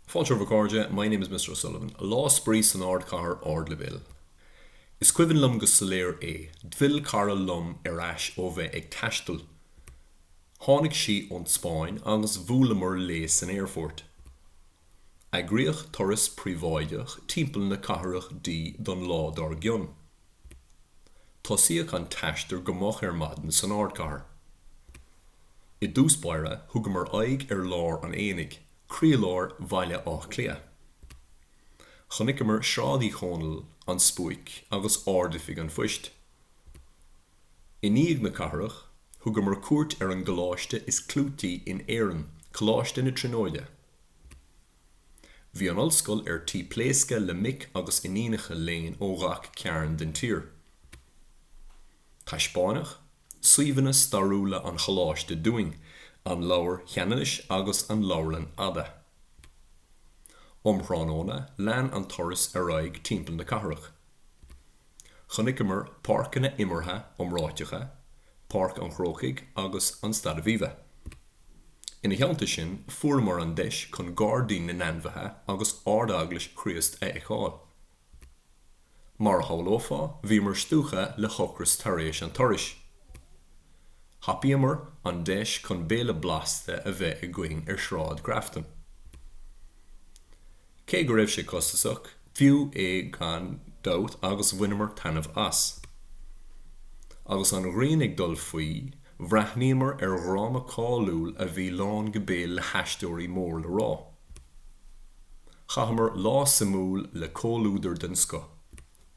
Fáilte romhaibh a chairde, My name is Mr. O'Sullivan. Lá spraoi san Ardchathair Ardleibhéal. Is cuimhin liom go soiléir é. D'fill cara liom ar ais ó bheith ag taisteal. Tháinig sí ón Spáinn agus bhuaileamar léi san aerfort. Eagraíodh turas príobháideach timpeall na cathrach di don lá dár gcionn. Tosaíodh an t-aistear go moch ar maidin san ardchathair. I dtús báire, thugamar aghaidh ar lár an aonaigh, croílár Bhaile Átha Cliath. Chonaiceamar Sráid Uí Chónaill, An Spuaic agus Ard-Oifig an Phoist. I ndiaidh na cathrach, thugamar cuairt ar an gcoláiste is clúití in Éirinn, Coláiste na Tríonóide. Bhí an Ollscoil ar tí pléascadh le mic agus iníonacha léinn ó ghach cearn den tír. Taispeáineadh suíomhanna stairiúla an Choláiste dúinn, an Leabhar Cheanannais agus an Leabharlann Fhada. Um thráthnóna lean an turas ar aghaidh timpeall na cathrach. Chonaiceamar páirceanna imeartha iomráiteacha, Páirc an Chrócaigh agus an Staid Aviva. Ina theannta sin, fuaireamar an deis chun Gairdín na nAinmhithe agus Ard-Eaglais Chríost a fheiceáil. Mar a shamhlófá, bhíomar stiúgtha le hocras tar éis an turais. Thapaíomar an deis chun béile blasta a bheith againn ar Shráid Grafton. Cé go raibh sé costasach, b'fhiú é gan dabht agus bhaineamar taitneamh as. Agus an ghrian ag dul faoi, bhreathnaíomar ar dhráma cáiliúil a bhí lán go béal le haisteoirí mór le rá. Chaitheamar lá suimiúil le comhluadar den scoth.